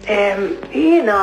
Jiena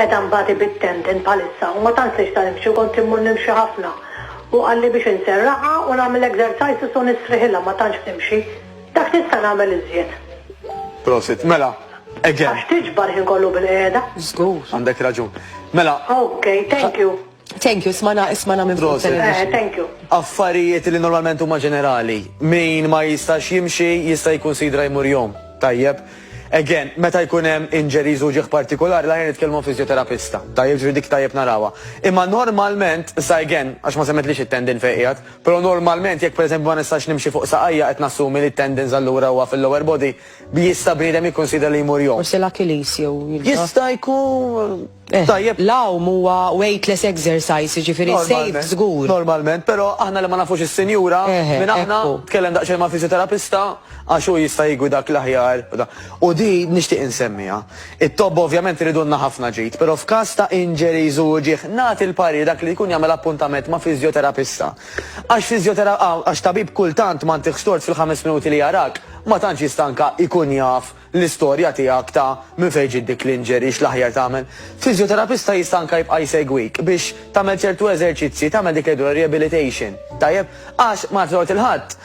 edha mbati bit-tendon bħalissa u ma tantx nista' nimxi u kont immur nimxi ħafna. Hu qalli biex inserraqha u nagħmel exercises u nisriħilha ma tantx nimxi. Dak nista' nagħmel iżjed. Prosit. Mela, again. Għax tiġbar ħin kollu bil-qiegħda. Żgur. Għandek raġun. Mela. Okay, thank you. Thank you, smana, smana minn fuq television. Thank you. Affarijiet li normalment huma ġenerali. Min ma jistax jimxi jista' jikkunsidra jmur jom. Tajjeb. Again, meta jkun hemm injuries u ġieħ partikolari l-aħjar nitkellmu fiżjoterapista. Tajjeb ġifieri dik tajjeb narawha. Imma normalment, sa again, għax ma semmetlix it-tendon fejn qiegħed, però normalment jekk pereżempju ma nistax nimxi fuq saqajja qed nassumi li t-tendons allura huwa fil-lower body, jista' bniedem jikkunsidra li jmur jom. Forsi l-Achilles jew il-. Jista' jkun. Tajjeb. L-għawm huwa weightless exercise, jiġifieri safe Normalment, żgur. normalment, però aħna li ma nafux is-sinjura, Eħe, minn aħna, ekku. tkellem daqsxejn ma' fisioterapista għax hu jista' jigwidak l-aħjar u da. U di nixtieq insemmiha. It-tobba ovvjament iridulna ħafna ġid, però f'każ ta' injuries u uġigħ, nagħti l-parir dak li jkun jagħmel appuntament ma' fisioterapista. Għax fisiotera, għax tabib kultant m'għandihx tort fil-ħames minuti li jarak, ma tantx jistanka jkun jaf L-istorja tiegħek ta' minn fejn ġiet dik l-injury x'l-aħjar tagħmel? Fiżjoterapista jista' anke jibqa' jsegwik biex tagħmel ċertu eżerċizzji, tagħmel dik li jgħidulha rehabilitation, tajjeb? Għax ma nafx dwar il-Ħadd,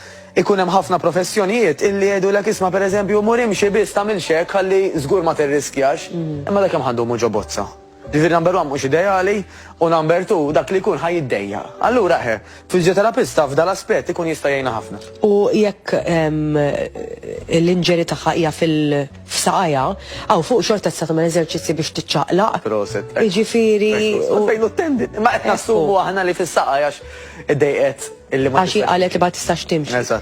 ikun hemm ħafna professjonijiet illi jgħidulek isma' pereżempju mur imxi biss tagħmilx hekk ħalli żgur ma tirriskjax. Imma dak kemm ħa ndumu ġo bozza? Jiġifieri number one mhux ideali u number two dak li jkun ħa jiddejjaq. Allura eħe, fiżjoterapista f'dan l-aspett ikun jista' jgħinha ħafna. U jekk l-injury tagħha hija f'saqajha, hawn fuq xorta tista' tagħmel eżerċizzji biex tiċċaqlaq. Proset. Jiġifieri. Fejn hu t-tendin? Imma qed nassumu aħna li fis-saqajha għax iddejqet illi ma. Għax hi qalet li ma tistax timxi.